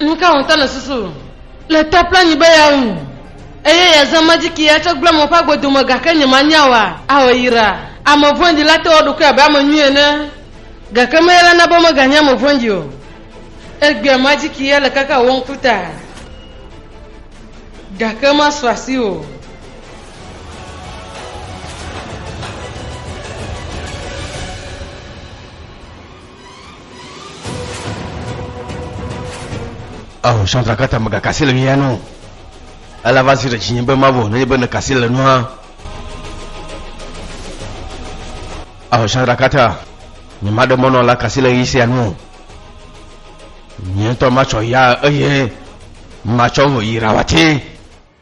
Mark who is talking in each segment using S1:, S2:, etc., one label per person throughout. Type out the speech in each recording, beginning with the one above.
S1: Nu ka ŋutɔ nèsusu le ta kple anyi be yeawu eye yeazã majiki atsɔ gblẽ mɔ ƒe agbo dome gake nyemanya oa? Ao yra! Ame vɔ̃ɖi la te wɔ eɖokui abe ame nyui ene, gake meya la na be meganye ame vɔ̃ɖi o. Egbea majiki ya le kaka wò ŋku ta, gake masu asi o. Ao, sɔdzakata megakasi le mía nu. Ela va zi ɖe dzinye be mavɔ nenye be nekasi le nua. Ao, sɔdzakata, nyemaɖe mɔnɔ la kasi le ɣi sia nu. Nye ŋutɔ matsɔ ya eye matsɔ ŋu yi Rawati.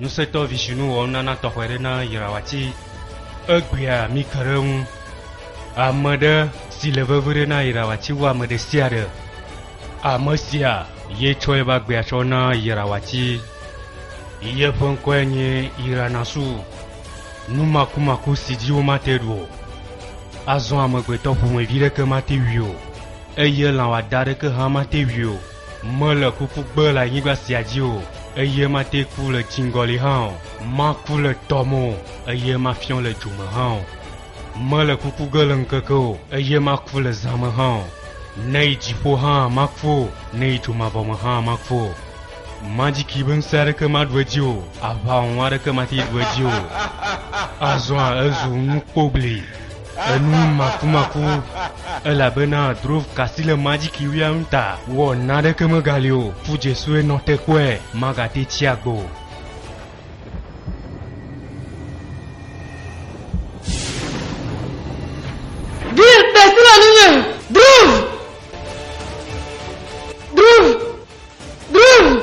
S1: Ŋusẽtɔ Vishnu wɔ nunana tɔxɛ ɖe na Iravati. Egbea mike ɖe eŋu. Ame ɖe si le veviɖe na Iravati wu ame ɖesiaɖe. Ame sia ye tsɔ yeƒe agbea tsɔ na Iravati. Yeƒe ŋkɔe nye Iranasu, numakumaku si dzi womate ɖu o. Azɔ amegbetɔ ƒomevi ɖeke mate wui o, eye lã wɔadã aɖeke hã mate wui o. Mele kuku gbe le anyigba sia dzi o, eye mate ku le dziŋgɔli hã o. Maku le tɔ me o, eye mafiɔ le dzo me hã o. Mele kuku ge le ŋkeke o, eye maku le zã me hã o. Ne yi dziƒo hã, maku o, ne yi dzo mavɔ me hã, maku o. Madzi kee be ŋusẽ aɖeke maɖu edzi o, aʋawɔwɔ aɖeke mate ɖu edzi o. Azɔa ezu nukpobli. Enu makumaku elabena drove kasi le majiki wia nu ta. Wɔ naneke megali o, fu dze sue nɔ te kpɔe, magate tsi agbe o. Bill kasi le nunye, drove! Drove! Drove!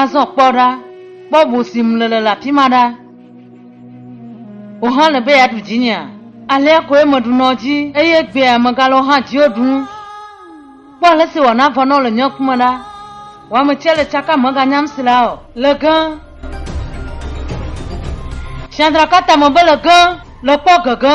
S1: Azɔ kpɔ ɖa, kpɔ ʋu si ŋu nèle le afi ma ɖa. Wò hã èle be yeaɖu dzinyea? Alea koe meɖu nɔ dzi, eye egbea megale wò hã dziwò ɖum. Kpɔ ale si wòana vɔ nɔ le nye ŋkume ɖa. Wò ame tsia le tsakam meganyam si la o. Le ge! Tsiã dra ka tame be le ge! Le kpɔ gege!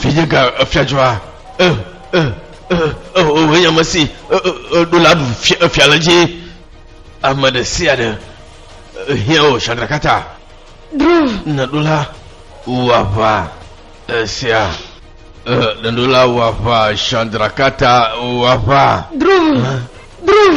S1: Vinye ga efiadzɔa e e e e o eya me si e e e ɖo la ɖu fia efia le dzi ame ɖe sia ɖe ehiã o shadrakata Drov. neɖo la wò aʋa esia e neɖo la wò aʋa shadrakata wò aʋa Drov. Drov.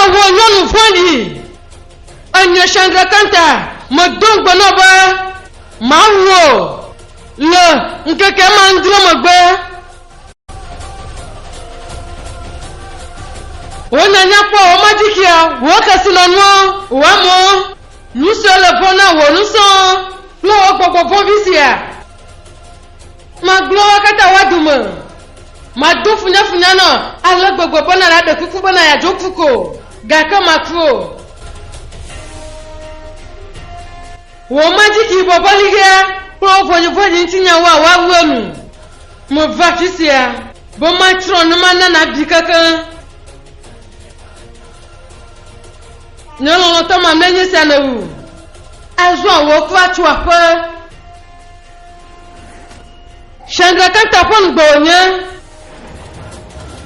S1: Ewɔ nyɔnu vɔ̃ɖi. Enye Chandrakanta medo ŋugbe nɔ be, Mawu o, le ŋkeke ma adre megbe. Wò nya nyakpɔ, wò madzikia, wò kesinɔnuɔ, wò amɔ. Nu siwo le vɔ̃ na wò nusɔ kple wò gbɔgbɔ vɔ̃vi sia. Magblɔ woa katã woa dome. Mado funyafunya nɔ ale gbegbe be na ɖaɖe kuku bena yeadzo ku ko, gake maku o. Wò madzikibɔbɔliɣea kple wò vɔ̃dzivɔ̃dzi ŋuti nyawoa woawu enu. Meva afi sia be matsrɔ̃ ne mana nabi kekeŋ. Nye lɔlɔ̃tɔ mamlɛ nye sia le wu. Azɔa wò kura tso aƒe. Shandra Kanta ƒe ŋugbe wònye.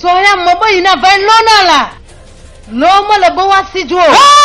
S1: Sɔ ya mɔ be yi nava yi lɔna la, lɔ mele be woasi dzo o.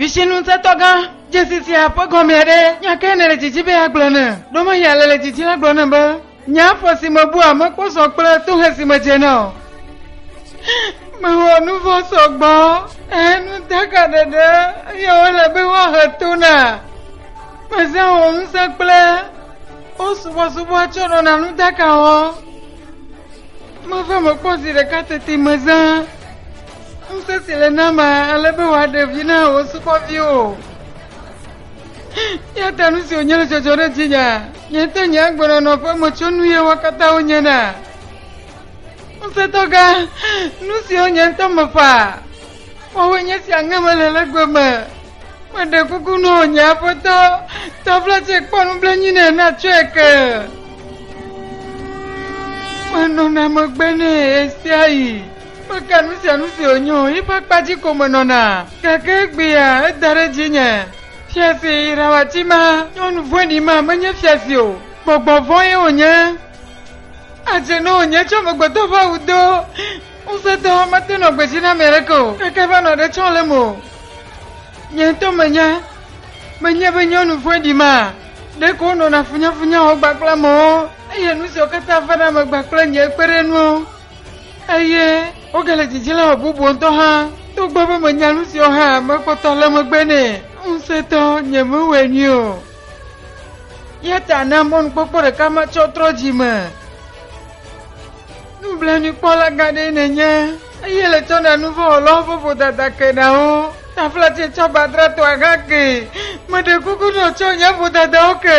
S1: Vitsinuŋutɔgã dzesi sia ƒe gɔme ɖe nya kae nèle didi be yeagblɔ nam? Ɖo menya alele didi la gblɔ nam be Nye afɔ si mebua mekpɔsɔ kple tohe si medzena o. Mewɔ nu vɔ̃ sɔgbɔ, ehe nu daka ɖeɖe, eye wole be woahe to na. Mezã wò ŋusẽ kple wo subɔsubɔ tsɔ ɖɔna nu daka wɔ. Meva mekpɔ zi ɖeka teti mezã ŋusẽ si le nama ale be wòaɖe vi na wò subɔviwo. Ya ta nu si wònye le dzɔdzɔ ɖe dzinye. Nye ŋutɔ nye agbenɔnɔ ƒe metsonu ye wo katã wonye na. Ŋusẽtɔ gã, nu siwo nye ŋutɔ mefa. Woawoe nye si aŋe mele le gbe me. Meɖe kuku nɔ nye aƒetɔ, tɔfla tsɛ kpɔ nublenui nɛ natsɔe ke. Menɔna megbe nɛ ɣesiaɣi. Meka nu sia nu si wònye o, yi ƒe akpa dzi ko menɔna. Gake egbea, eda ɖe dzinye. Fiase irawati ma, nyɔnu vɔ̃ɖi ma, menye fiase o. Gbɔgbɔ vɔ̃e wònye. Adze ne wònye tsɔ amegbetɔ ƒe awu do. Ŋusẽtɔ, mate ŋu nɔ gbe dzi na ame aɖeke o, gake eva nɔ ɖe tsɔm lém o. Nye ŋutɔ menya. Menye be nyɔnu vɔ̃ɖi ma, ɖeko wonɔna funyafunya wɔm gbã kple amewo, eye nu siawo katã vana megba kple nye kpeɖenuwo. Eye wogale didi le bubu ŋutɔ hã, togbɔ be menya nu siwo hã mekpɔtɔ le megbe nɛ ŋusẽtɔ nyemewɔe nyui o. Eya ta na mɔnukpɔkpɔ ɖeka matsɔ trɔ dzi me. Nublanuikpɔla gã ɖee nènye, eye le tsɔ na nuvɔ̃wɔlawo ƒe vodada ke na wo. Taflatse tsɔ badratɔa hã ke. Meɖe kuku nɔ tsɔ nye vodadawo ke.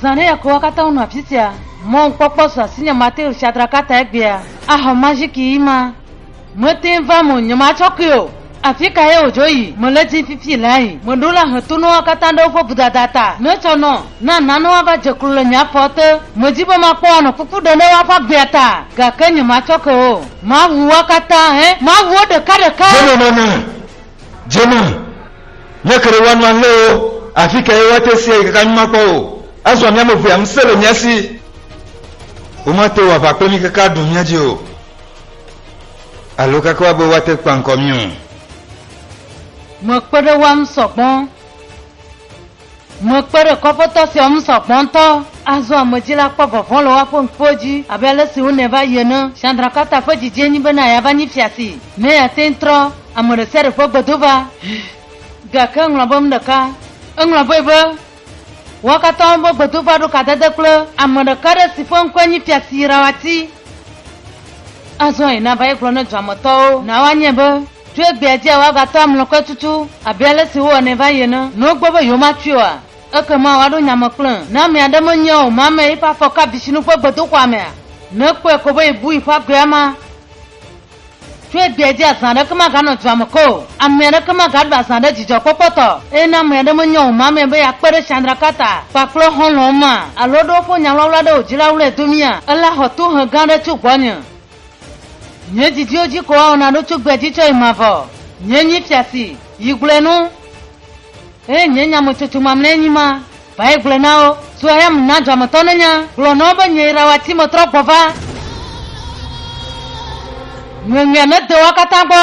S1: Zã ɖe yakowa katã wonɔ afisia. Mɔ ŋkpɔkpɔ su asinye Mateo Shadrakata egbea axɔ majiki yi ma. Meteŋ va eme o nye matsɔ kui o. Afika ye wòdzo yi? Mele dim fifi laa yi. Meɖo la he tonoa katã ɖe woƒe vodada ta. Metsɔ nɔ. Na nanewoa va dze klo le nye afɔ te. Medi be makpɔ woanɔ kuku ɖem ɖe woaƒe agbea ta, gake nye matsɔ ke o. Maʋu woa katã, ẽ, maʋu wo ɖekaɖeka. Dze nɔ nane. Jona, nye kere woanu alé wo, afi kae woate si ayi kaka nyuma kpɔ o? Azɔ mía amevea ŋusẽ le mía si. Womate wɔ aʋa kple mí kaka aɖu mía dzi o, alo kaka woabe woate kpa ŋkɔ mí o. Mekpe ɖe woa ŋu sɔgbɔ. Mekpe ɖe kɔƒetɔ sia ŋu sɔ gbɔ ŋutɔ. Azɔ ame dzi la kpɔ vɔvɔ̃ le woaƒe ŋkuwo dzi abe ale si wonɛ va yi ene. Sandrakata ƒe didiɛ nyi bena yeava nyi fia si mee ate ŋu trɔ ame ɖe sia ɖe ƒe gbedo va. Gake eŋlɔ be nuɖeka. Eŋlɔ vɛ be, Woa katã woƒe gbedo va ɖo kadede kple ame ɖeka aɖe si ƒe ŋkɔe nye fia si yraoati. Azɔ yi nava ye gblɔ ne dua me tɔwo na woanyae be. Tso egbea dzia, woagatɔ amlɔkɔe tutu abe ale si wowɔnɛ va yi ene. Ne wogbe be yewomatsoe oa, ekema woaɖo nya me kple. Ne ame aɖe menyae o, mamea yiƒe afɔ ka bisinu ƒe gbedoxɔa mea? Ne ekpɔe ko be yebu yiƒe agbea ma. Tso egbea dzi azã aɖeke maganɔ dua me ke o, ame aɖeke magaɖu azã ɖe dzidzɔkpɔkpɔ tɔ. Eye ne ame aɖe menya o mamea be yeakpe ɖe Tsandraka ta kpakple xɔlɔ̃wo ma, alo ɖe woƒo nya wlawla ɖe wò dzi la wlɔe domia, ela xɔ tohe gã aɖe tso gbɔnye. Nye didiwo dzi ko woawɔ naɖo tso gbea dzi tsɔ yi mavɔ. Nye nyi fia si, yi gblɔe no. Eye nye nyametsotso mamlɛa nyi ma, va yi gblɔe na wo. Tso eya me na dua me tɔwo nenya, gblɔ na wo be nyee Rawati metrɔ gbɔ va. Ŋeŋea nede woa katã gbɔ.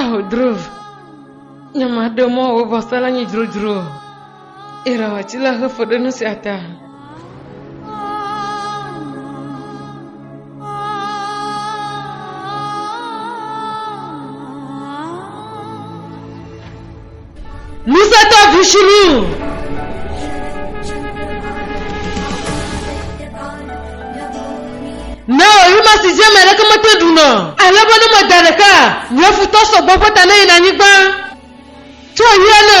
S1: Eho drov. Nyama ɖe mɔ wo bɔ sala nyi drodro. Ira wa ti la hefo ɖe nu sia ta. Ŋusẽtɔ Vushulu! Ne ɣeyiɣima si dzi ame aɖeke mete ɖuna o, ale be ne meda ɖeka, nye futɔ sɔgbɔ ƒe ta neyina anyigba. Tso ɣeyiɣia ne.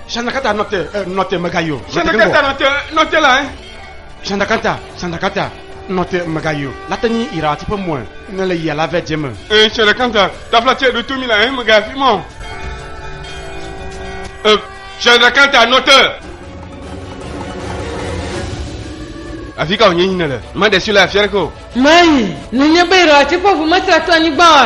S1: Shandakata nɔte eh, nɔte megayo. Shandakata nɔte nɔte la. Eh. Shandakata shandakata nɔte megayo. Latenyi ira ati ƒe mɔe ne le yia la vɛ dze me. Eh shandakata tafla tse ɖo tomi la eh megafi mɔ. Eh shandakata nɔte. Afi ka wònye nyine le? Made si le afia ɖeke o. Mayi, nenye be ira ati ƒe ʋu mesra to anyigba o.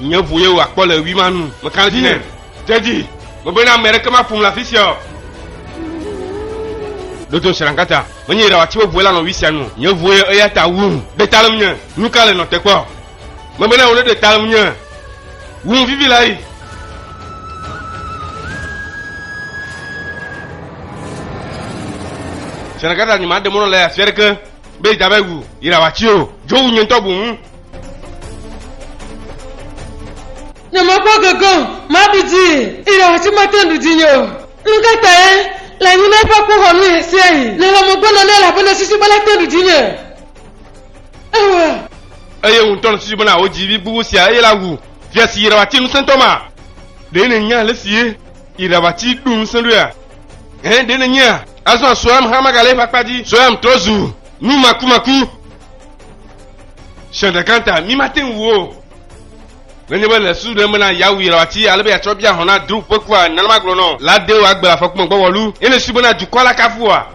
S1: Nye ʋu ye wòakpɔ le ɣi ma nu. Meka ɖe edzi nɛ. De edzi. Megblɔ na ame aɖeke maƒom le afi sia o. Ɖoto Srankata. Menye Yedawa tsiwo ʋue lanɔ ɣi sia nu. Nye ʋu ye eya ta wum. Ɖe ta le ŋunye. Nuka le nɔ te kpɔ? Megblɔ na wò ne ɖe ta le ŋunye. Wum vivi la yi. Srankata nyi ma ɖe mɔnɔ le afi aɖeke be yi dava yi wu Yedawa tsi o. Dzo wu nye ŋutɔ bu ŋu. Nyemekpɔ gege o, maɖu dzi, eye ɖewoatsi mate ŋu ɖu dzinye o. Nu ka tae? Le anyinɔe ƒe akpoxɔnu ɣesiaɣi, nèwɔ megbenɔ nɛ elabena susu bena ate ŋu ɖu dzinye. Ewa. Eye wò ŋutɔ nèsusu bena wò dzivi gbogbo sia eye la wu fia si yi ɖaʋatsi ŋusẽtɔ ma? Ɖe nènya alesi ye yi ɖaʋatsi ɖo ŋusẽ ɖoea? Ɛ̃, ɖe nènyea? Azɔ Soyam hã magale eƒe akpa dzi. Soyam trɔ zu numakumaku. Ƒe ɖeka ta, mi mate ŋu wu o. Nenye be le susu ɖem bena yeawui la, wòati ale be yeatsɔ bia hɔ̃ na Drup ƒe kua, nenema gblɔ nɔ. La de wò agbe le afɔku me gbɔwɔlu, ye nèsui bena dukɔ la kafu wòa?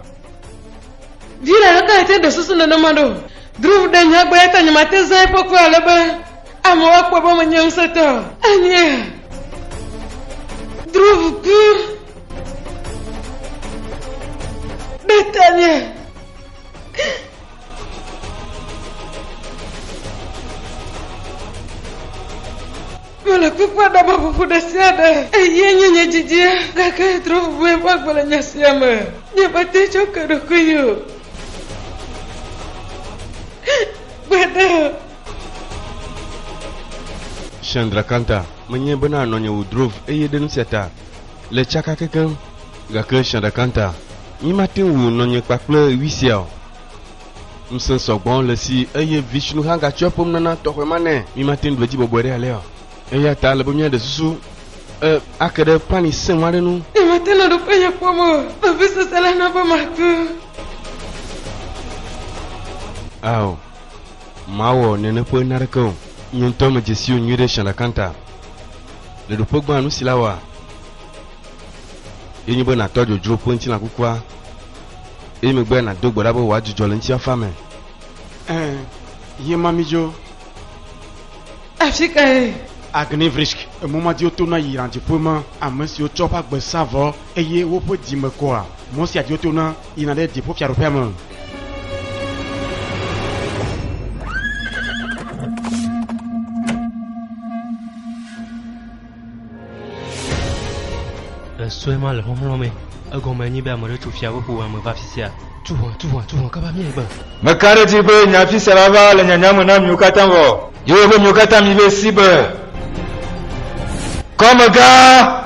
S1: Vi la hã ate ŋu ɖe susu nenema ɖo. Drup ɖe nya egbɔ, eya ta nyemate ŋu zã eƒe kua ale be amewo akpɔe be menye ŋusẽtɔ o. Anye Drup ku ɖe tanye. Mele kpekpe ɖe me ƒoƒo ɖe sia ɖe. Eyae nye nye dzidzie. Gake trɔ ʋuʋuie ƒe agbe le nya sia me. Nyemete ŋu tsɔ ke ɖokuinye o. Gbeɖe o. Chandrakanta, menyae bena nɔnye wò drove eye ɖe nu sia ta, Le tsaka kekeŋ, gake sia ɖeka ta, nyemate ŋu nɔnye kpa kple ɣi sia o. Ŋusẽ sɔgbɔ le esi eye Vishnu hã gatsyɔ ƒom nana tɔxɛ ma nɛ. Mímate ŋu ɖu edzi bɔbɔe ɖe alea o. Eya ta ele be míaɖe susu e ake ɖe pani sẽŋu aɖe ŋu. Nyemate ŋu ɖoƒe nye kpɔm o. Vevisese la na be maku. Ao, mawɔ nene ƒe naneke o. Nye ŋutɔ medze sii o nyuiɖe sia ɖeka ta. Le ɖoƒe gbã nu si la wɔa ye nye be nàtɔ dzodzro ƒe ŋutilã kukua eye megbe nàdo gbe ɖa be wòadzudzɔ le ŋutifafa me. Ẽ, yé ma mi dzo. Afi kae? Agnivrisk, emɔmadiwo tona yina dziƒo me, ame siwo tsɔ woƒe agbe sa vɔ Eye woƒe dzi me kɔa mɔ sia dzi wotona yina ɖe dziƒofiaɖuƒea me. le sue ma le xɔxlɔ̃ me egɔme nyi be ame ɖe tso fia ƒoƒo ame va fi sia tu hɔn tu hɔn tu hɔn kaba mi egbe. meka ɖe dzi be nya fi sia la va le nyanya me na miwo katã vɔ yewo be miwo katã mi be si be kɔmega.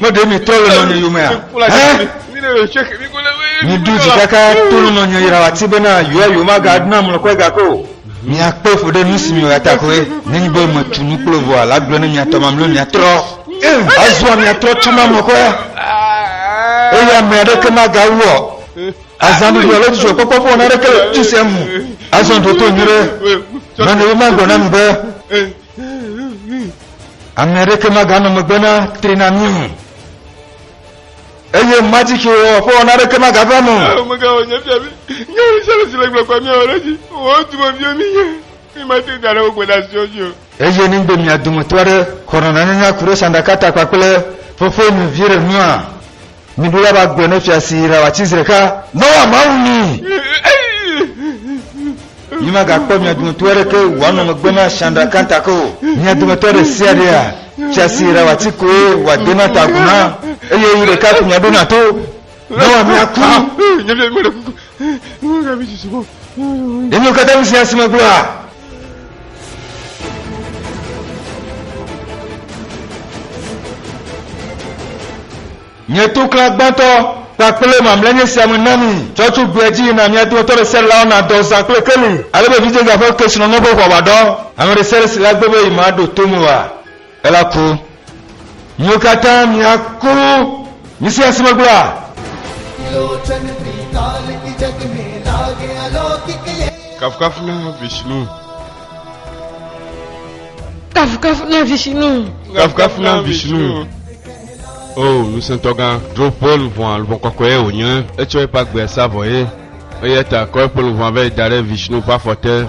S1: Ne ɖe mi trɔ le nɔnye yomea? Mi ɖu dzi kaka to le nɔnye yra wati bena yoa yoma ga ɖuna mlɔ kɔe ga ko. Mi akpe fo ɖe nusi mi yoa ta koe. Ne nyi be me tu nu kple voa la gblɔ ne mi atɔ ma mlɔ mi atrɔ. Azua mi atrɔ tu ma mlɔ kɔe. Eye ame aɖeke ma ga wɔ. Azan ɖuɖu alo dzudzɔ kpɔkpɔ ƒe wɔna aɖeke le tusia mu. Azan ɖo to nyere. Nɔnye yoma gblɔ na mi be. Ame aɖeke maganɔ megbe na tri na mí o. Eye majiki wɔ ƒe wɔna aɖeke magava me o. Megawɔ nye fia mi. Nye wo sia le si le gblɔkpa mi awɔ ɖe dzi. Wo dome viwo mi nye. Mi mate ŋu aɖe wo gbe ɖe asiwo dzi o. Eye ne be mia dometɔ aɖe xɔ nɔnɔnenya ku ɖe sanɖaka ta kpakple fofoe nɔvi ɖe nua? Miɖo la ba gbe ne fia si yina wòatsi zi ɖeka ne woa Mawu ni. Mimagakpɔ mia dometɔ aɖeke wòanɔ megbe na Chandra Kanta ke o. Mia dometɔ ɖe sia ɖea fia si yina wòatsi koe wòadena ta agu na, eye yi ɖeka ko miaɖo na to ne woa miaku. Ɖe miwo katã ŋusẽa si megblɔa? Nye toklã gbãtɔ kpakple mamlɛ nye sia me na mi. Tsɔ tso gbe dzi yi na mia dometɔ ɖe sia ɖe lawo nadɔ zã kple keli, ale be vidzedze aƒe kesinɔnɔ ƒe ʋɔa wòaɖɔ. Ame ɖe sia ɖe si le agbe be yemaɖo to me oa, Elaku. Miwo katã miaku. Misi asi me gblɔa. Kafukafu na Vishnu. Kafukafu na Vishnu. Kafukafu na Vishnu. O oh, ŋusẽtɔgã. Ɖo ƒe luʋɔa luʋɔ kɔkɔe wònye. Etsɔ eƒe agbe sa vɔ ye. Eya ta kɔ eƒe luʋɔa vɛ da ɖe Vishnu ƒe afɔ te.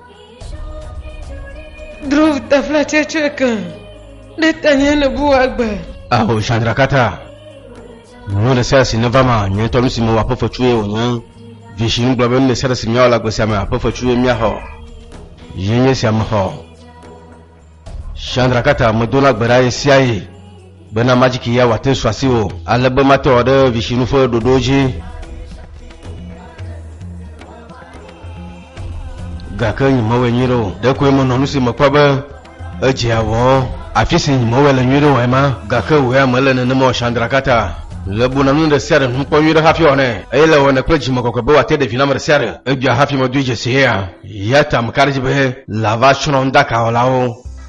S1: Drov tafla tsɛtsɛ kan ɖe tanye le bu agbe. Aho Chandrakata. Nyɔnu ɖe sia si neva ma, nyɔnu tɔ nu si mewɔ aƒe fetsu ye wònye. Vishi nu gblɔ be nu ɖe sia ɖe si míawɔ le agbe sia me aƒe fetsu ye míaxɔ. Ye nye sia mexɔ. Shandrakata medona gbe ɖa ɣesiaɣi bena majiki ya wòate su asi o, ale be mate wɔ ɖe visinu ƒe ɖoɖowo dzi. Gake nyemewɔe nyuie ɖe o. Ɖekoe menɔ nu si mekpɔ be edze awɔ. Afi si nyemewɔe le nyuie ɖe oae ma. Gake wòea mele nenema o, Shandrakata. Le buna nu ɖe sia ɖe ŋu kpɔ nyuie ɖe hafi wɔnɛ, eye le wɔnɛ kple dzimekɔkɔe be wòate ɖe vi na ame ɖe sia ɖe. Edzɔa hafi medoe dzesiea? Yatam ka ɖe dzi be lava tsrɔ̃dakawɔlawo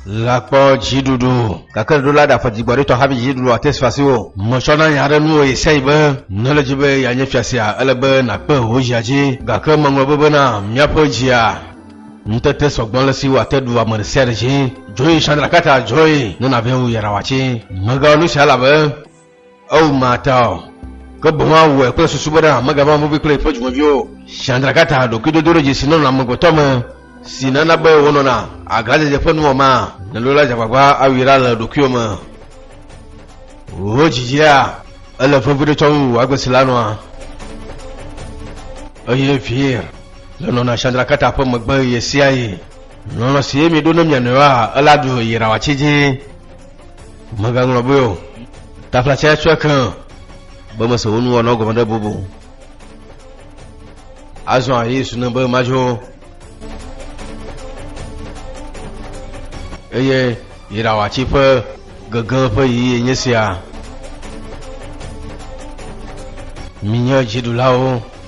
S1: la kpɔ dziɖuɖu, gake ɖo la ɖaƒe dzigbɔɖitɔ hafi dziɖuɖua te su asi o. Metsɔ na nya aɖe nu wò Yesai be, ne ele dzi be yeanye fia sia, ele be nàkpe wò dzia dzi, gake meŋlɔ be bena míaƒe dzia ŋutete sɔgbɔ ale si wòate ɖu ame ɖe sia ɖe dzi. Dzoe Sandra Carter, dzoe ne nàvɛ̃ wò yayrawatsi. Megawɔ nu sia elabe Eo mata o, ke boŋ awɔe kple susu bena amegava vɔ̃vi kple eƒe dzumeviwo o. Shandrakata, ɖokuidodoɖedzi si nɔna amegbetɔ me, si nana be wonɔna aglãdzedze ƒe nuwɔma, nèɖo la dze agbagba awui ɖa le ɖokuiwò me. Wò dzidzia, ele veviɖe tsɔm wu wò agbe si la nɔa. Eye Vir le nɔna Shandrakata ƒe megbe ɣesiaɣi. Lɔlɔ̃ si miɖo ne mia nɔewoa, ela ɖu yi ɖawɔatsi dzi. Mègaŋlɔ be o. Taflatse tsɔe ke o. Be mese wo nuwɔnɔ gɔme ɖe bobo. Azɔ Yesu ne be madzo. Eye yiɖawatsi ƒe gege ƒe yiyi nye sia. Minye dziɖulawo.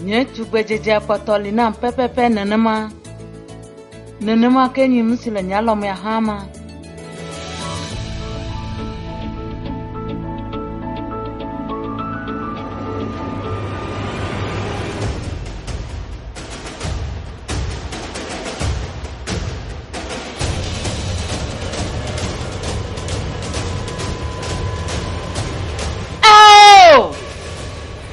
S1: Nye tugbedzedzea kpɔtɔ li nam pɛpɛpɛ nenema. Nenema ke nyim si le nye alɔmea hã ma.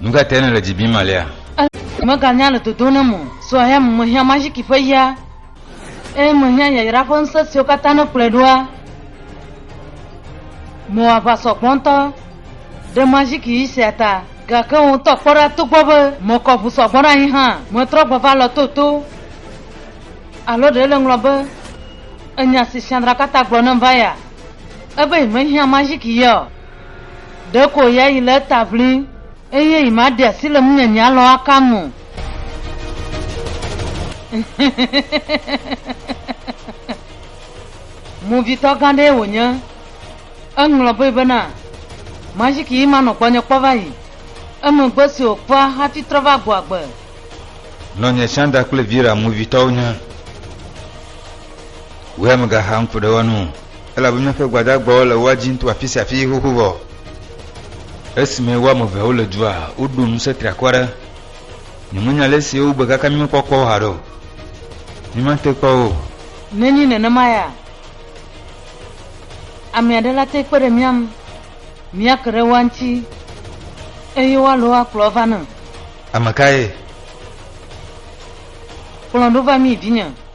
S1: Nu ka tae nèle dzi bim alea? Meganya le dodom nam o. So ayame mehiã maziki ƒe ya, eye mehiã yayra ƒe ŋusẽ siwo katã nekplɔe ɖoa. Mewɔ aʋa sɔgbɔ ŋutɔ ɖe maziki ɣi sia ta, gake wò ŋutɔ kpɔ ɖa togbɔ be mekɔ ʋu sɔgbɔ ɖe anyi hã, metrɔ gbe va lɔ toto. Alo ɖe nèŋlɔ be enya si Sandra katã gblɔ nam va ya, ebe yemehiã maziki yaɔ? Ɖeko ya yi le eta ʋlin, eye yi ma ɖe asi le ŋunyanya lɔ aka nu. Movitɔ gã ɖee wònye. Eŋlɔ be bena, Majiki yi ma nɔ gbɔnye kpɔ va yi. Emegbe si wòkpɔa hafi trɔ va gbɔ agbe. Nɔnye Sandra kple Vera movitɔwo nye. Wea megaxa ŋku ɖe wo nu o. elabe míaƒe gbadagbawo le woa dzim to afi sia afi xoxo vɔ. Esime wo ame eveawo le dua, woɖo ŋusẽ triakɔ aɖe. Nyemenya ale si wogbe kaka mí mekpɔ kpɔ wo haɖe o. Míemate kpɔ wo o. Nenye nenema ya, ame aɖe la te kpe ɖe mía ŋu míake ɖe woa ŋuti eye woalɔ wo akplɔ va nam. Ame kae? Kplɔ ɖo va mí, vinye.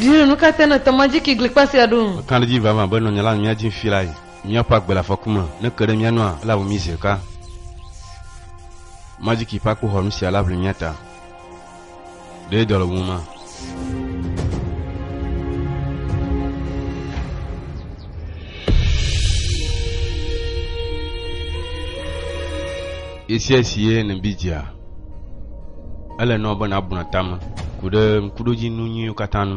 S1: Dieu nu ka te nète ŋu adzi ki glikpa sia ɖo? Mekã ɖe edzi vavã be nɔnye la nɔ mía dzi ŋfi lae. Míaƒe agbe le afɔku me. Ne ke ɖe mía nua, elawu mí zi ɖeka. Madzi ki ƒe akpoxɔnu sia la ʋli mía ta. ɖe dɔ le wuma esia si ye ne bi dzia ele nɔ be nabuna tame ku ɖe ŋkuɖodzi nu nyuiwo katã nu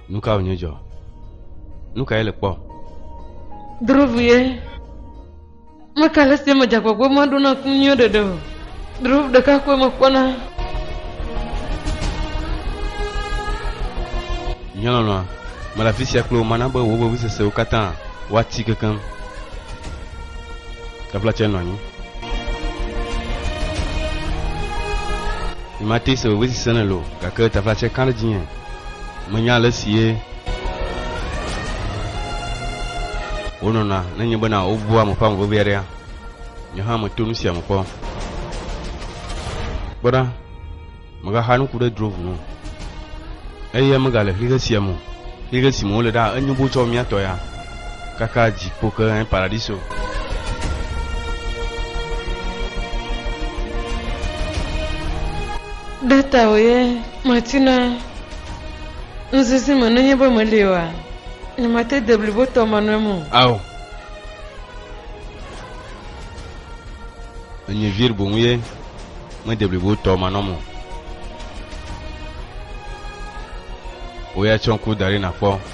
S1: Nu ka wònye dzɔ? Nu kae le kpɔ? Druvie, meke ale si eme dzagbɔgbɔ ma ɖo na ku nyuie ɖeɖe o. Druv ɖeka koe mekpɔna. Nye lɔlɔ̃a, mele afi sia kple wò mana be wò vevisesewo katã woati kekeŋ. Taflatse nɔ anyi. Nyemate se vevesese nèle o, gake taflatse ka ɖe dzinye. Menya ale si ye wonɔna nenye bena wobua ame ƒe ame vevia ɖea? Nye hã meto nu sia me kpɔ. Kpɔ ɖa, megaxa nuku ɖe dro ŋu o. Eya megale xixe sia me o. Xixe si me wole ɖaa, enyo boo tsɔ mía tɔ ya kaka dziƒo ke hẽ paradiso. Ɖe tawòe Matina nuzizi me nenye be meli oa? Nyemate de blibo tɔ ma nu eme o. Ao. Enye vir boŋ ye mede blibo tɔ ma nɔm o. Woya tsɔ ŋku da ɖi nakpɔ.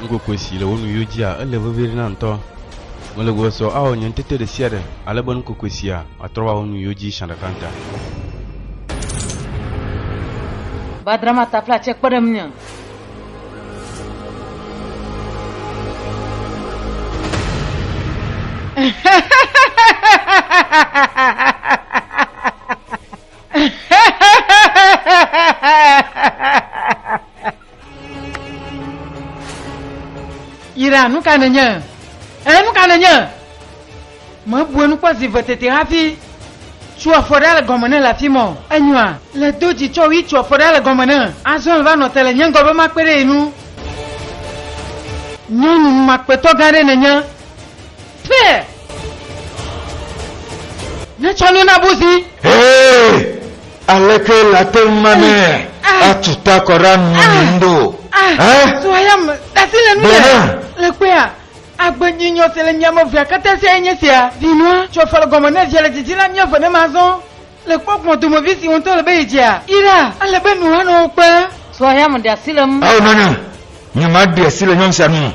S1: Nukokue si le wò nuyiwo dzia, ele veviɖe nam ŋutɔ. Mele gbegbe sɔ awɔ nye ŋutete ɖesiaɖe ale be nukokue sia atrɔ ava wò nuyiwo dzi sia ɖeka ŋuta. Ba drama ta fla tse kpe ɖe ŋunye. Ira, nu ka nènye? Ẽ, nu ka nènye? Mebue nu kpɔ zi ve tete hafi. Tso afɔ ɖa le gɔme ne le afi mɔ. Enyoa? Le do dzi tsɔ wi tso afɔ ɖa le gɔme ne. Azɔ le va nɔ te le nye ŋgɔ be makpe ɖe ye nu. Nyɔnu numakpetɔ gã ɖe nènye. Fe! Netsɔ nu na buzi. Hee! Aleke late ŋu mame atu ta kɔ ɖe anu me mi ŋɖo? Ɛ? Sua ya me, dasi le nu yɛ. Le kpea, agbe nyi nyɔ si le mia me vea kata sia ye nye sia. Vinua, tsɔ fale gɔme ne via le dzidzi la mia ve ne ma zɔn. Le kpɔkplɔ domevi si ŋutɔ le be yedzea yi ɖa. Ele be nu hanɔ wo kpe. Tso axea me ɖe asi le ŋu. Ao nɔnye, nye ma ɖe asi le nyɔnu sia nu me.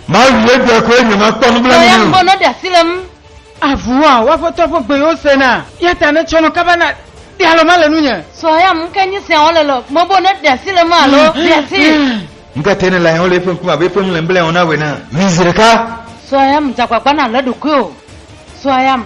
S1: Ma wui egbea ko eye nye ma kpɔ nublanui nɛ o. Tso axea me ne ɖe asi le ŋu. Avua wo aƒetɔ ƒe gbe yewo se na. Eya ta ne tsɔ nu kaba na ɖe alɔ ma le nunye. Tso axea me ke nye sia wole le me bo ne ɖe asi le ŋu alo ɖe asi. Ŋka te ne le ahe o le eƒe ŋkume abe eƒe nu le ŋblae wɔm na wɔ ene. Wi zi ɖeka. Tso axea me dze agbagba na le eɖokui o. Tso axea me.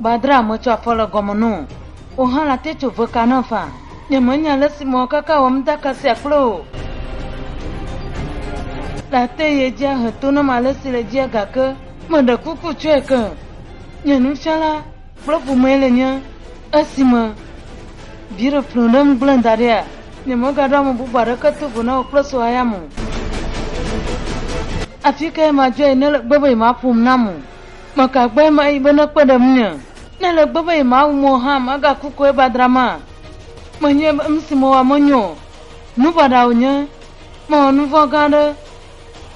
S1: Gbadraa metsɔ afɔ le gɔme no o. Wò hã late tso ve ka nam faa. Nyemenya ale si mewɔ kaka wɔ nuɖaka sia kple wò o. Late ye dzi ahe to nam ale si le edzia gake meɖe kuku tsɔe ke. Nye nufiala kple ƒomee le nye. Esime viɖe ƒlɔ ɖem gblẽ da ɖia, nyemegaɖo ame bubu aɖeke to vo na wò kple srɔ̃ayame o. Afi kae madzɔe ne le gbe be yemaƒom nam o? Mɔ ka gbɔe mayi be nekpe ɖe ŋunye? Ne ele gbɔ be yemawu mɔ hã magaku koe va dra ma? Menyae be nusi mewɔ menyo o. Nu baɖa wònye. Mewɔ nuvɔ̃ gã aɖe.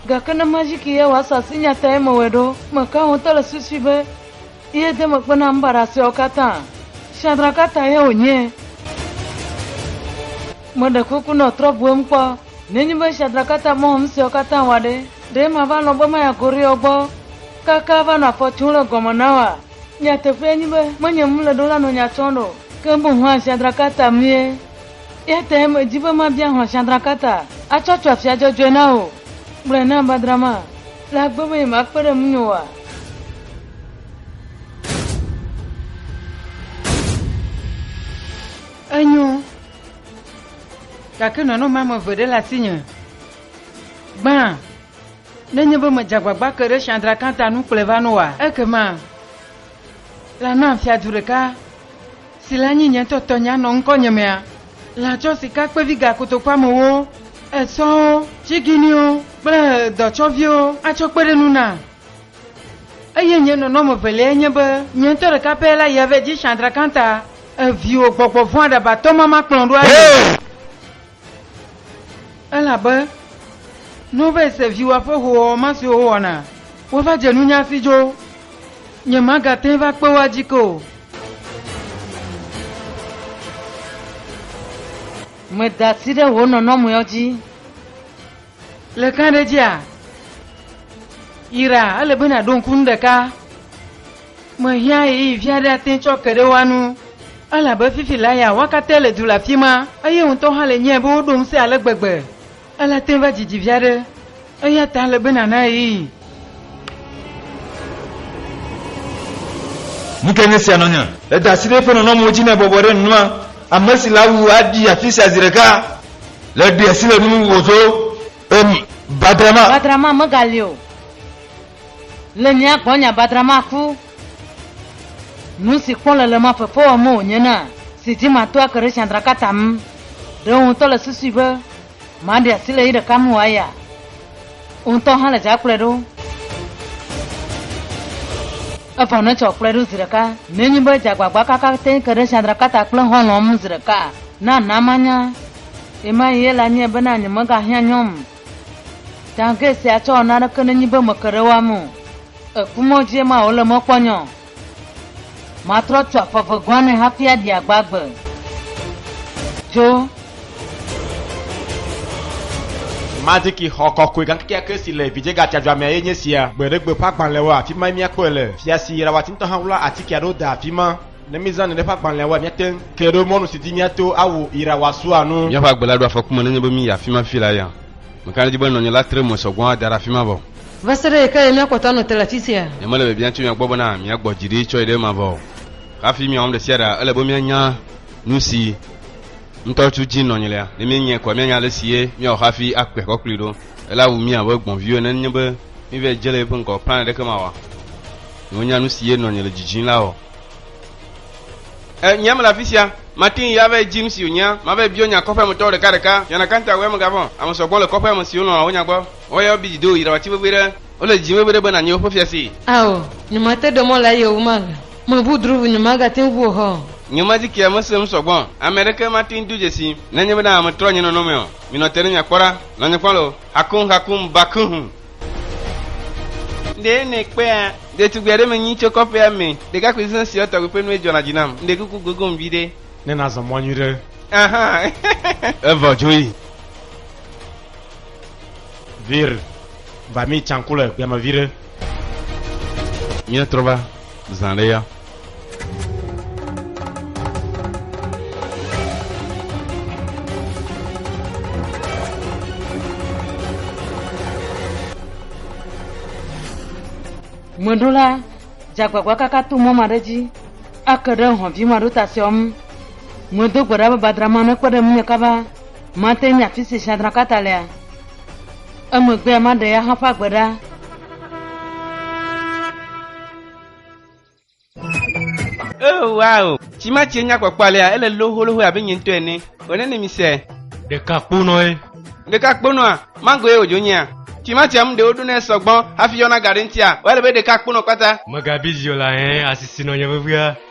S1: Gake ne mazi ke ye wòasu asi nyatae mewɔe ɖo. Meka ho ŋutɔ le susui be ye de megbe na nu baɖa siawo katã. Shadraka ta ye wònyae. Meɖe kuku nɔ trɔbuem kpɔ. Nenye be Shadrack ate ame wɔm siawo katã wɔa ɖe, ɖe mava lɔ̃ be maya Koreyɔ gbɔ kaka va nɔ afɔ tum ɖe gɔme na woa? Nyateƒee nye be, menye ŋu le ɖo la nɔ nya tsɔm o. Ke boŋ hlã Shadrack ata mie. Eya tae medi be mabia hlã Shadrack ata atsɔ tso afia dzɔdzɔe na wò. Gblɔe nam badra ma le agbe be yemakpe ɖe ŋunye oa? Enyo. Gake nɔnɔme ame eve ɖe le asinye. Gbã, nenye be medze agbagba ke ɖe Shadraka ta nu kplɔe va na wòa? Ekema la nam fiadu ɖeka, si le anyi nye ŋutɔ tɔnye anɔ ŋkɔnye mea? La tsɔ sikakpevi gakotokuamewo, esɔwo, tsiginiwo kple dɔtsɔviwo atsɔ kpe ɖe nu nam. Eye nye nɔnɔme veliae nye be nye ŋutɔ ɖeka pɛ la yia vɛ dzi Chandrakanta, e viwò gbɔgbɔ vɔ̃ aɖabatɔ ma makplɔ ɖo ayi o. Elabe ne wova se viwòa ƒe hoowɔwɔ ma siwo wowɔna, woava dze nunye hafi dzo. Nyemagate ŋu va kpe wo adzi ke o. Meda asi ɖe wò nɔnɔmewo dzi. Le gãɖedzia, yra ele be nàɖo ŋku nu ɖeka. Mehiã ɣeyiɣi vi aɖe ate tsɔ ke ɖe woa nu, elabe fifi la ya woa katã le du le afi ma, eye wò ŋutɔ hã le nyae be woɖo ŋusẽ ale gbegbe. Ele ate va dzidzi vi aɖe, eya ta ele be nàna ɣeyiɣi Nu ka nye sia nɔ nye? Eda asi ɖe eƒe nɔnɔmewo dzi ne ebɔbɔ ɖe nua ame si le awu aɖi afi sia zi ɖeka le ɖi asi le nu wòdo em badrama. Badrama megali o. Le mía gbɔ nya badrama ku. Nu si kpɔ le le ma fefe wɔm wònye na si dzi mato ake ɖe tsã drakata ŋu. Ɖewo ŋutɔ le susui be Maɖi asi le yi ɖeka me wòayi a? Wò ŋutɔ hã le dza kplɔe ɖo. Evɔ nètsɔ wò kplɔe ɖo zi ɖeka. Nenye be dzagbagba kaka te ke ɖe Shandrakata kple xɔlɔ̃a ŋu zi ɖeka a, na na manya. Ɣemaɣi ye la nyae bena nyemegahiã nyɔm tangɛ sia tsɔ naneke nenye be meke ɖe woame o. Èkpɔ mɔ dzie ma wòle mɔ kpɔ nyɔ Matrɔ tu aƒe eve gɔ̃ ne hafi aɖi agbagbe. Dzo. Maziki xɔ kɔkɔe gã kekeake si le Vidzegatiadzɔamea ye nye sia. Gbeɖegbe ƒe agbalẽwo, afi mae míakpɔe le. Fia si yra wati ŋutɔ hã wlɔa atike aɖewo dea afi ma. Ne míezã neɖe ƒe agbalẽwoa, míate ŋu ke ɖo mɔnu si dzi míato awu ira wòasua nu. Míaƒe agbe la ɖo afɔku me nenye be míyi afi ma fifi la ya. Meka ɖe edzi be nɔnye la tre mo sɔ gbɔ ada ɖe afi ma vɔ. Va se ɖe ɣe kae míakpɔ ta anɔ te le afi sia? Nyemele biabiam tso mia gbɔ bena miagbɔ dzi ɖi tsɔe ɖe ema vɔ o. Hafi miawɔm ɖesiaɖea, ele be mianya nusi ŋutɔ tu dzi nɔ nylia. Ne míenyae koa, míanya alesi ye míawɔ hafi akpe kɔ kplii ɖo. Ela wu mí abe gbɔ̃viwo ene nenye be míeva dze le yeƒe ŋgɔ o. Plan aɖeke mawɔ ne wonya nusi ye nɔ nye le dzidzim la o. E, nyea mele afi sia. Mate ŋu ava edzi nusi wònyea. Mava ebiɔ nya kɔƒea me tɔwo ɖekaɖeka. Fiana Kantawɛ megavɔ̃. Ame sɔgbɔ le kɔƒea me siwo lɔ̃a wò nya gbɔ. Woayɔ bi dzido yra wati vevue ɖe. Wole dzi vevue ɖe be nanyi woƒe fiasee. Ao, nyo ma te ɖe mɔ la ye wo ma ga me ʋu dru ʋu nyo ma ga te ŋu o hɔ. Nyo ma dzi kia me se nu sɔgbɔ. Ame ɖeke ma te ŋu do dze si. Ne nye be na me trɔ nye nɔnɔ me ɔ, mi nɔ te ne mia kpɔ ɖa. Nɔ nye kpɔ lo. Hakum hakum ba kuhum. Ŋde ne kpea? Ɖetugbui aɖe me nyi tso kɔƒea me. Ɖekakpui sesẽ siɔ tɔgbi ƒe nue dzɔna dzi nam. Ŋde kuku gogom viɖe. Ne na zɔ mɔ nyuiɖe. Ahan. Evɔ dzo yi. Vir. Va mi tsan ku le gbea me viɖe. Mía trɔ va zã ɖe ya. Mɔɖo la, dzagbagba kaka to mɔ ma ɖe dzi ake ɖe hɔ̃vi ma ɖo ta seɔ ŋu. Mɔdo gbe ɖa be badrama ne kpe ɖe ŋunye kaba. Mate ŋu afi si Shadrakata lea, emegbea maɖe eya hã ƒe agbe ɖa. Oh, wow! Tsi ma tsie nya kpɔkpɔ alea, ele loholóhóe abe nye ŋutɔ ene. Wɔ ne ne mi se. Ɖeka kponɔe. Ɖeka kponɔa? Mango ye wòdzo nyea? Tsi ma tsia ŋu ɖe woɖo nɛ sɔgbɔ hafi yɔna ga ɖe ŋutia? Woa ele be ɖeka kponɔ kpata. Mega bizi o la ɛɛ, asi si nɔ nye vevia.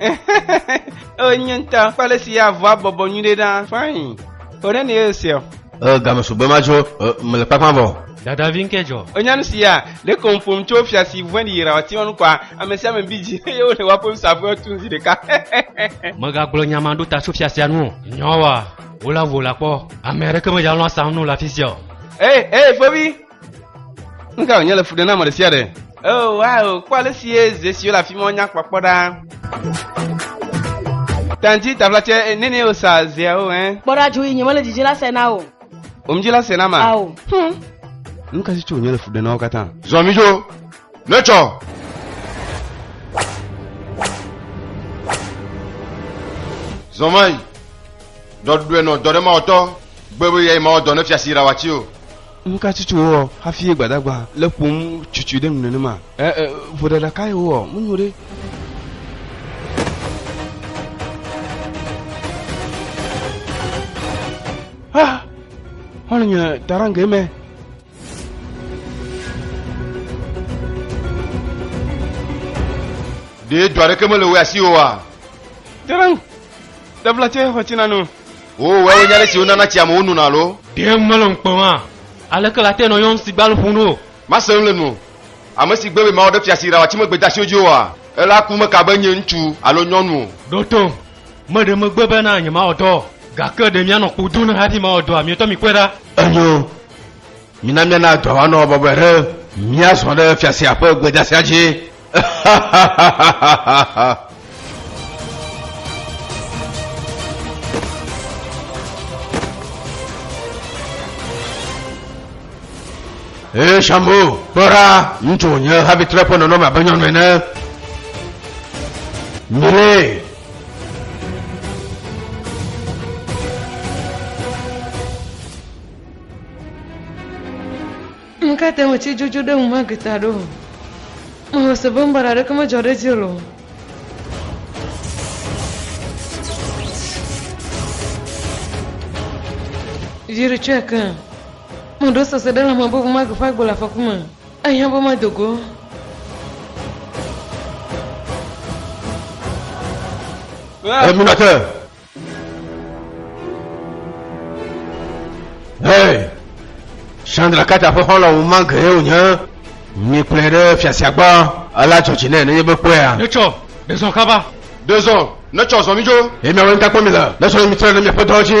S1: Ee, nye ŋutɔ kple ale si avɔa bɔbɔ nyuiɖe ɖa. Fain. Wòɖe ne ye sia. Ee, game sugbɔ ema tso ee, mele kpakpa vɔ. Dadavi ŋkɛ dzɔ. Ènya nu sia? Ɖeko ƒom tso fia si vɔ̃e ɖi yira wòati enu kɔa? Ame sia ame bi dzi eye wole woaƒe nusaƒewo tum zi ɖeka. Mègagblɔ nya ma ɖo ta tso fia sia nu o. Nyawoa, wole avu wò la kpɔ. Ame aɖeke medze alɔ̃ asam nu le afi sia o. Ee, ee, fovi, Nu ka wònye le fu ɖe na ame ɖe sia ɖe? Oh, wow, kpɔ ale si ye ze siwo le afi ma nya kpɔkpɔ ɖa. Tanti tavlatsɛ eh, nene wosa zeawo ɛ. Eh. Kpɔ ɖa dzo yi nyemele dzidzi la se na o. Omdzi la se na ma. Ao. Hmm. Nu ka si tso wònye le fu ɖe na wo katã? Zɔ mi dzo. Ne tsɔ. zɔnmayi dɔɖuɖuɛ nɔ dɔ ɖe mawɔtɔ gbɛbɛ yɛ mawɔ dɔ ne fiasi ra wa ci o Nu ka tutu wowɔ hafi ye Gbadagba le ƒom cucui ɖe nu nenema? E, e, vodada kae wowɔ? Menyo ɖe. Ha! Hɔle nye tarange me. Ɖe dɔ aɖeke mele wò asi oa? Tarang, ɖevla tse xɔ tsi na nu. Wò wɛwo nye ale si wonana tsi amewo nona alo? Ɖe mele ŋu kpem hã. Aleke la te nɔ yɔm si gbal ƒun ɖo? Mase nu le nuwò. Ame si gbe be mawɔ ɖe fiasi ɖawa tsi me gbedasiwo dzi oa, elaa ku meka be nye ŋutsu alo nyɔnu o. Ɖo tom. Meɖe megbe be na nyemawɔ dɔ o. Gake ɖe mianɔ kpo dom ne hafi mawɔ dɔa? Mietɔ mikpɔe ɖa. Enyo. Mina míana dɔa wòanɔ bɔbɔe ɖe míazɔ ɖe fia sia ƒe gbedasia dzi. Ee, Shambo, kpɔ ɖa, ŋutsu wònye hafi trɔ eƒe nɔnɔme abe nyɔnu ene. Mire, Ŋ ka te ŋu tsi dzodzo ɖe ŋu Magita ɖo o. Mexɔ se be nubaɖa aɖeke medzɔ ɖe edzi o. Dzi ɖe tsɔe ke. Meɖo sese ɖe lãme be ŋu mage ƒe agbe le afɔku me. Ehiã be mado go. Eminate! Hey! Chandra Kata ƒe xɔlɔ ŋu ma gee wònye. Mi kplɔe ɖe fiasia gbɔ, ela dzɔ dzi nɛ nenye be kpɔea. Netsɔ, ɖe zɔ kaba. Ɖe zɔ, netsɔ zɔ mi dzo. Eye miawo ŋutakpɔ mi le, ne sɔ ne mi trɔe ɖe miaƒe dɔwo dzi.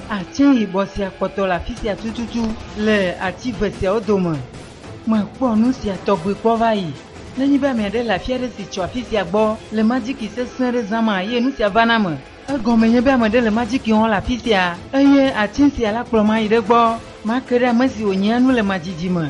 S1: Atse yibɔ sia kpɔtɔ le afi sia tututu. Le ati ve siawo dome. Mekpɔ nu sia tɔgbi kpɔ va yi. Nenye be ame aɖe le afi aɖe si tso afi sia gbɔ le majiki sesẽ aɖe zãm hã eye nu sia va na ame, egɔmee nye be ame aɖe le majiki wɔm le afi sia eye atse sia la kplɔm ayi ɖe egbɔ. Make ɖe ame si wònyea nu le madzidzi me.